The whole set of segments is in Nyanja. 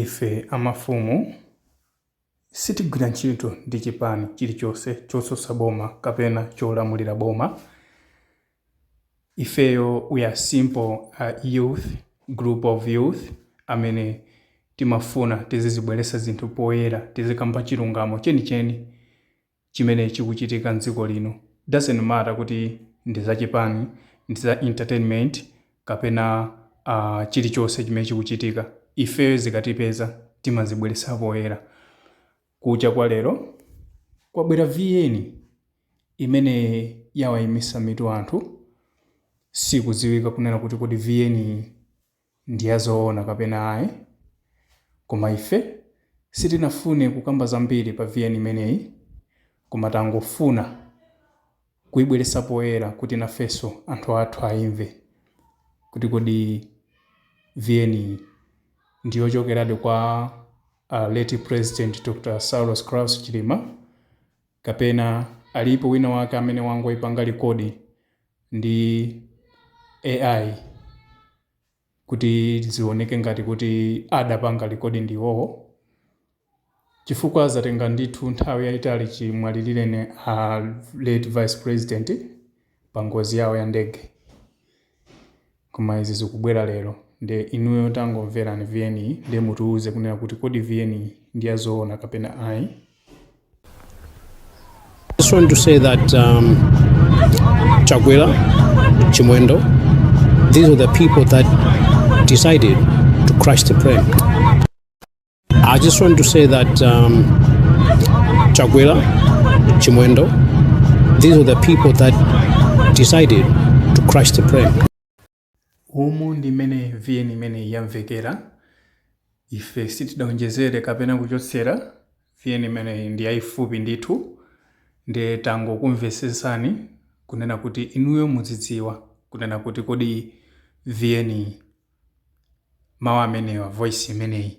Ife a mafumu sitigwira ntchito ndi chipani chilichonse chotsutsa boma kapena cholamulira boma. Ifeyo we are simple youth, group of youth amene timafuna tizizibweretsa zinthu poyera, tizikamba chilungamo chenicheni. chimene chikuchitika mdziko lino doesn't matter kuti ndi za chipani, ndi za entertainment kapena aah chilichonse chimene chikuchitika ifeyo zikatipeza timazibweretsa poyera. Kucha kwa lero kwabwera VN imene yawaimitsa mitu anthu sikudziwika kunena kuti kodi VN iyi ndi ya zoona kapena ayi, koma ife sitinafune kukamba zambiri pa vn imeneyi koma tangofuna kuibweretsa poyera kuti nafenso anthu athu aimve kuti kodi vn yi ndi yochokeradi kwa a late president Dr Saulos Klaus Chilima kapena alipo wina wake amene wangoipanga record ndi AI kuti zioneke ngati kuti adapanga record ndi iwowo chifukwa zatenga ndithu nthawi yayitali chimwalirireni a late vice president pa ngozi yawo ya ndege Koma izi zikubwera lero nde inuyo tangomverani vn yi nde mutiuze kunena kuti kodi vn yi ndi ya zoona kapena ayi. I just want to say that um, Chakwera, Chimwendo, these are the people that decided to crash the plane. I just want to say that um, Chakwera, Chimwendo, these are the people that decided to crash the plane. Umu ndi mmene vn imeneyi yamvekera ife sitidaonjezere kapena kuchotsera vn imeneyi ndi yayifupi ndithu nde tangokumvetsetsani kunena kuti inuyo mudzidziwa kunena kuti kodi vn mawu amenewa, voice imeneyi,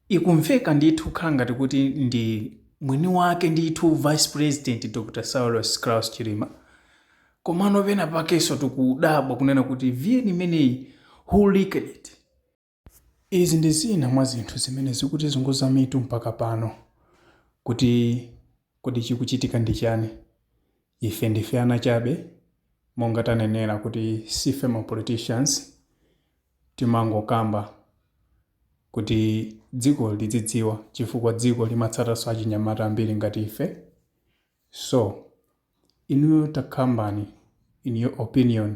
ikumveka ndithu kukhala ngati kuti ndi mwini wake ndithu vice president Dr Saulos Klaus Chilima, komano pena pakenso tikudabwa kunena kuti vn imeneyi who leaked it? Izi ndi zina mwa zinthu zimene zikutizunguza mitu mpaka pano kuti kodi chikuchitika ndi chani? Ife ndife ana chabe monga tanenera kuti sife ma politicians timangokamba kuti dziko lidzidziwa chifukwa dziko limatsatanso achinyamata ambiri ngati ife so inuyo takambani in your opinion